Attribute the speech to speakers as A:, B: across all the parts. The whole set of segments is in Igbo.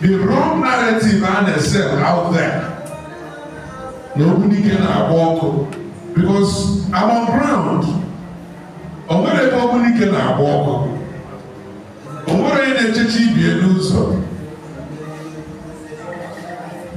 A: the wrong narrative a na-esel out there na Ogbunike na-agba ọkụ because I'm on ground o nwere ebe Ogbunike na-agba ọkụ o nwere onye na-echechi ibie n'ụzọ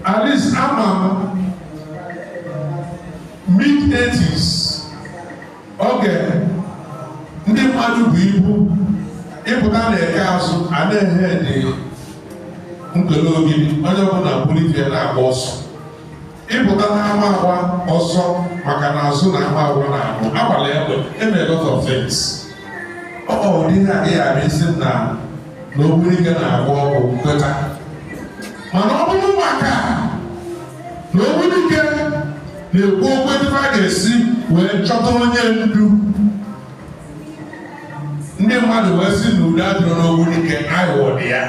A: at least ama m mid 80s oge ndị mmadụ bu ibu ịpụta na Eke Azụ a na-eje Nkwelle Ogidi onye ọbụla buru ife na-agba ọsọ ịpụta n'Amawa ọsọ maka na Azụ na Amawa na ahụ agbala egbe eme a lot of things ọ bụ ụdị ihe adịghị abụ ị sị m na na Ogbunike na-agba ọkụ m kweta mana ọ bụrọ maka na Ogbunike na-ekwu okwu ebe a ga-esi wee chọta onye ndu ndị mmadụ wee si na udo adịrọ n'Ogbunike aghụghọ dị ya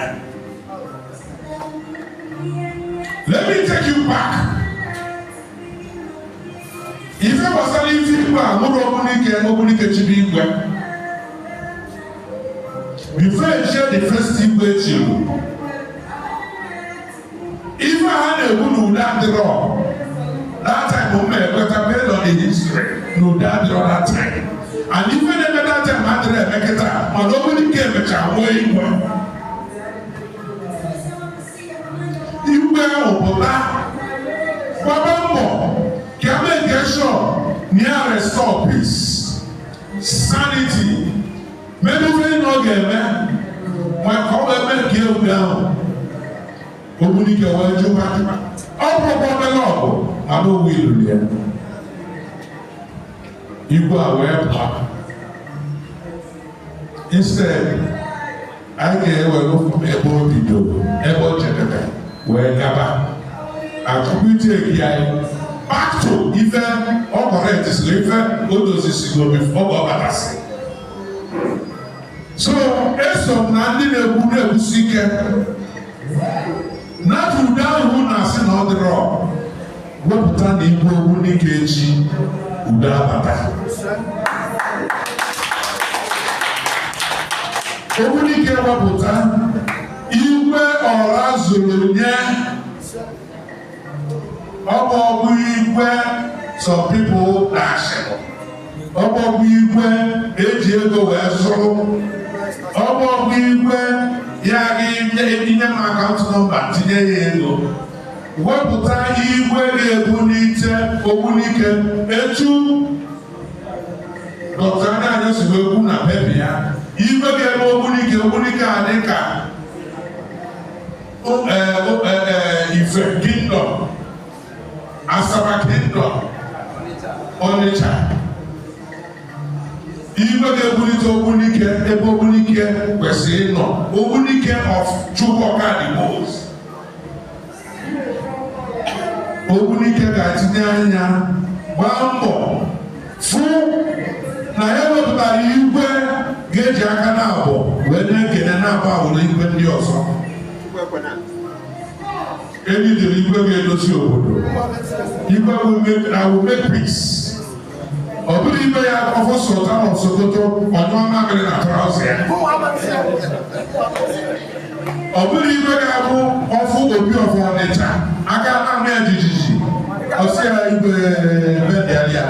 A: let me take you back ife gbasara ife igwe a mụrụ Ogbunike Ogbunike chibu igwe before echie the first igwe chiri ife ha na-ekwu na udo adịrọ that time m na-ekweta based on the history na udo adịrọ that time and ife na-eme that time adịrọ eme kịta mana Ogbunike emecha nwee igwe igwe ahụ pụta gbaba mbọ ka e make sure na e restore peace sanity mere ife na ọ ga-eme ma ka ọ wee mee nke egwu ahụ Ogbunike wee jụwa ọ bụrụkwa obere ọgụ ma na owu iluru ya igwe a wee pụọ instead anyị ga-ewere from ebe o bidoro ebe ọ chịdebe wee gaba achọkwa ịchịgha anyị back to ife ọ kọrọ etisiri ife o dozisigo ọ bụ ọbatasị so eso m na ndị na-ekwu na-ekwusi ike na udo ahụ a na-asị na ọ dịrọ wee pụta na igwe Ogbunike echie udo abata Ogbunike ewepụta igwe ọra zuru nye ọ bụrọkwa igwe some people dashịrị ọ bụrọkwa igwe e ji ego wee zụrụ ọ bụrọkwa igwe ya ga-enye m akaụntụ nọmba tinye ya ego wepụta igwe ga-ebunite Ogbunike etu dọkịta Anya si wee kwu na pepa ya igwe ga-eme Ogbunike Ogbunike adị ka Ife Kingdom, Asaba Kingdom, Onitsha. Igwe ga-ebulite ogbunike ebe ogbunike kwesịrị ịnọ Ogbunike of Chuba Okadigbos. Ogbunike ga-etinye anya gbaa mbọ fụ na ya wepụtara igwe ga-eji aka naabọ wee na-ekene na-abụ awụrụ igwe ndị ọzọ anyị needịrị igwe ga-edozi obodo igwe ga-eme peace ọ bụrọ igwe ya ọ fụ Sultan of Sokoto ọ nyụọ mamịrị na trouser ya ọ bụrọ igwe ga-abụ ọ fụ Obi of Ọnịcha aka ana-ama ya jijiji ọ sị ya igwe bedịalị ya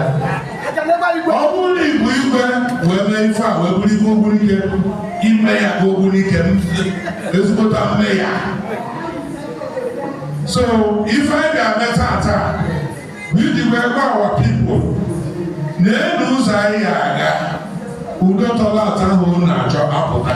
A: ọ bụrụ na igwe igwe wee mee ife a wee bụrụ igwe Ogbunike ime ya ka Ogbunike ezigbota mme ya so ife anyị ga-eme tata bụ iji wee gwa our people na elu ụzọ anyị aga udo tọrọ atọ ahụ na-achọ apụta